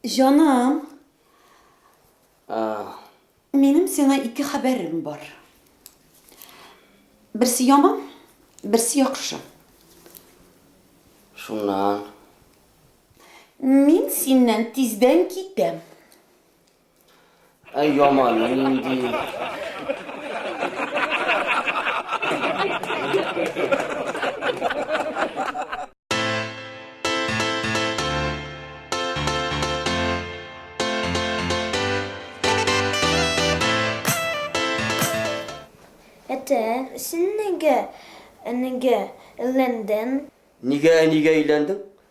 Җаным, А, минем сиңа ике хәбәрем бар. Берсе яман, берсе яхшы. шуннан. Мин синнән тиздән китәм. Әй яман, нинди... Әтә, син нигә, нигә өйләндең? Нигә, нигә өйләндең?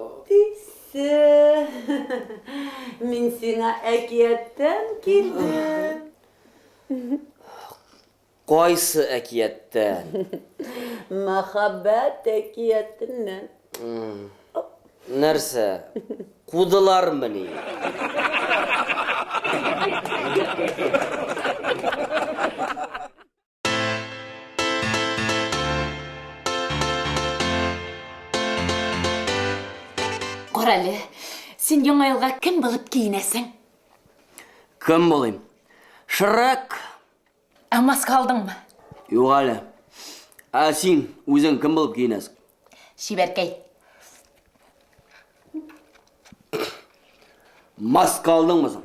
Әтисе. Мин сиңа әкияттән килдем. Кайсы әкияттән? Мәхәббәт әкиятеннән. Нәрсә? Кудылармы ни? Карале, син яңа елга кем булып киенәсең? Кем булыйм? Шрек. Ә маска алдыңмы? Юк әле. Ә син үзең кем булып киенәсең? Чибәркәй. Маска алдыңмы соң?